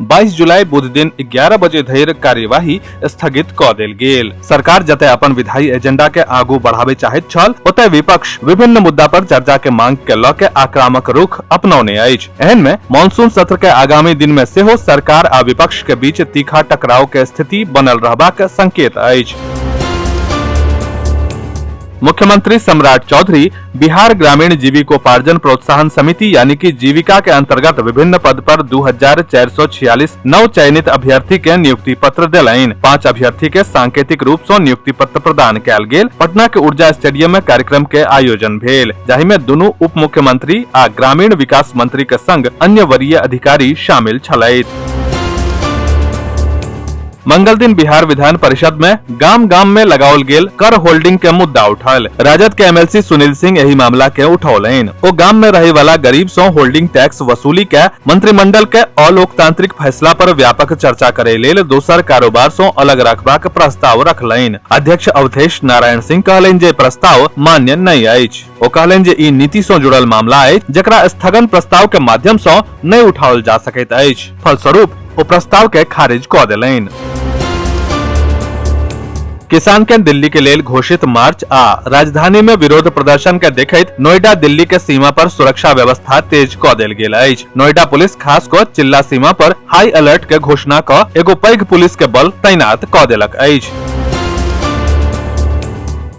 22 जुलाई बुध दिन 11 बजे धरि कार्यवाही स्थगित क देल गेल सरकार जतय अपन विधायी एजेंडा के आगू बढ़ावे चाहैत छल ओतय विपक्ष विभिन्न मुद्दा पर चर्चा के मांग के लऽ के आक्रामक रुख अपनौने अछि एहन में मानसून सत्र के आगामी दिन में सेहो सरकार आ विपक्ष के बीच तीखा टकराव के स्थिति बनल रहबाक संकेत अछि मुख्यमंत्री सम्राट चौधरी बिहार ग्रामीण जीविकोपार्जन प्रोत्साहन समिति यानी कि जीविका के अंतर्गत विभिन्न पद पर दू हजार चार सौ छियालीस नव चयनित अभ्यर्थी के नियुक्ति पत्र दिलाइन पाँच अभ्यर्थी के सांकेतिक रूप ऐसी नियुक्ति पत्र प्रदान कल गेल पटना के ऊर्जा स्टेडियम में कार्यक्रम के आयोजन भेल जाहि में दोनों उप मुख्यमंत्री आ ग्रामीण विकास मंत्री के संग अन्य वरीय अधिकारी शामिल छलथि मंगल दिन बिहार विधान परिषद में गाम गाम में लगाओल गेल कर होल्डिंग के मुद्दा उठल राजद के एमएलसी सुनील सिंह यही मामला के उठौलन ओ गाम में रहे वाला गरीब सो होल्डिंग टैक्स वसूली के मंत्रिमंडल के अलोकतांत्रिक फैसला पर व्यापक चर्चा करे लेल दोसर कारोबार सो अलग रखबा के प्रस्ताव रखलन अध्यक्ष अवधेश नारायण सिंह कहलन जे प्रस्ताव मान्य नहीं अछि ओ कहलनि जे ई नीति सं जुड़ल मामला अछि जकरा स्थगन प्रस्ताव के माध्यम सं नहि उठाओल जा सकैत अछि फलस्वरूप ओ प्रस्ताव के खारिज कऽ देलनि किसान के दिल्ली के लेल घोषित मार्च आ राजधानी में विरोध प्रदर्शन के देखैत नोएडा दिल्ली के सीमा पर सुरक्षा व्यवस्था तेज क देल गेल अछि नोएडा पुलिस खास क चिल्ला सीमा पर हाई अलर्ट के घोषणा क एगो पैघ पुलिस के बल तैनात क देलक अछि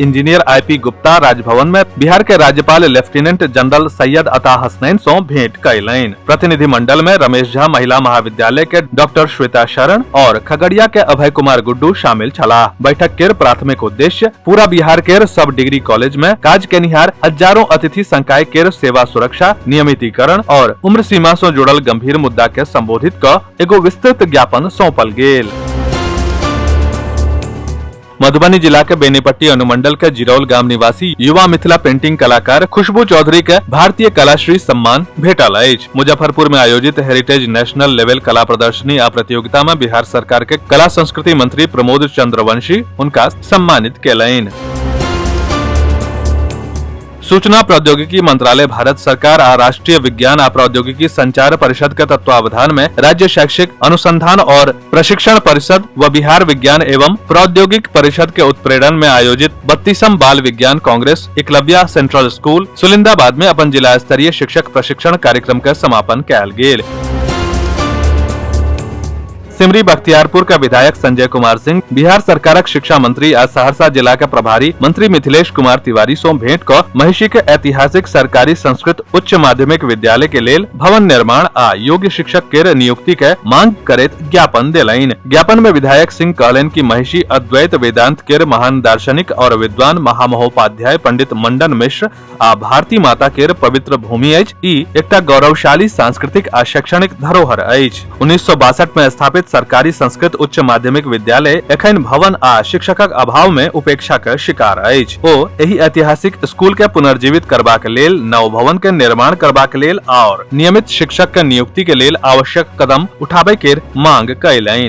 इंजीनियर आईपी गुप्ता राजभवन में बिहार के राज्यपाल लेफ्टिनेंट जनरल सैयद अता हसनैन सो भेंट कैलनि प्रतिनिधि मंडल में रमेश झा महिला महाविद्यालय के डॉक्टर श्वेता शरण और खगड़िया के अभय कुमार गुड्डू शामिल छला बैठक के प्राथमिक उद्देश्य पूरा बिहार के सब डिग्री कॉलेज में काज के निहार हजारों अतिथि संकाय के सेवा सुरक्षा नियमितीकरण और उम्र सीमा से जुड़ल गंभीर मुद्दा के संबोधित क एगो विस्तृत ज्ञापन सौंपल गेल मधुबनी जिला के बेनीपट्टी अनुमंडल के जिरौल गाम निवासी युवा मिथिला पेंटिंग कलाकार खुशबू चौधरी के भारतीय कलाश्री सम्मान भेटल अछि मुजफ्फरपुर में आयोजित हेरिटेज नेशनल लेवल कला प्रदर्शनी आ प्रतियोगिता में बिहार सरकार के कला संस्कृति मंत्री प्रमोद चंद्रवंशी उनका सम्मानित केलनि सूचना प्रौद्योगिकी मंत्रालय भारत सरकार आ राष्ट्रीय विज्ञान आ प्रौद्योगिकी संचार परिषद के तत्वावधान में राज्य शैक्षिक अनुसंधान और प्रशिक्षण परिषद व बिहार विज्ञान एवं प्रौद्योगिक परिषद के उत्प्रेरण में आयोजित बत्तीसम बाल विज्ञान congress Eklavya central school Sulindabad में अपन जिला स्तरीय शिक्षक प्रशिक्षण कार्यक्रम का समापन कयल गेल सिमरी बख्तियारपुर का विधायक संजय कुमार सिंह बिहार सरकारक शिक्षा मंत्री आ सहरसा जिला के प्रभारी मंत्री मिथिलेश कुमार तिवारी सो भेंट क महिषी के ऐतिहासिक सरकारी संस्कृत उच्च माध्यमिक विद्यालय के लेल भवन निर्माण आ योग्य शिक्षक के नियुक्ति के मांग करैत ज्ञापन देलनि ज्ञापन में विधायक सिंह कहलनि कि महिषी अद्वैत वेदांत के महान दार्शनिक और विद्वान महामहोपाध्याय पंडित मंडन मिश्र आ भारती माता के पवित्र भूमि अछि ई एकटा गौरवशाली सांस्कृतिक आ शैक्षणिक धरोहर अछि उन्नीस सौ बासठ में स्थापित सरकारी संस्कृत उच्च माध्यमिक विद्यालय एखन भवन आ शिक्षकक अभाव में उपेक्षा के शिकार अछि ओ एहि ऐतिहासिक स्कूल के पुनर्जीवित करबाक लेल नव भवन के निर्माण करबाक लेल आओर नियमित शिक्षक के नियुक्ति के लेल आवश्यक कदम उठाबय के मांग कयलनि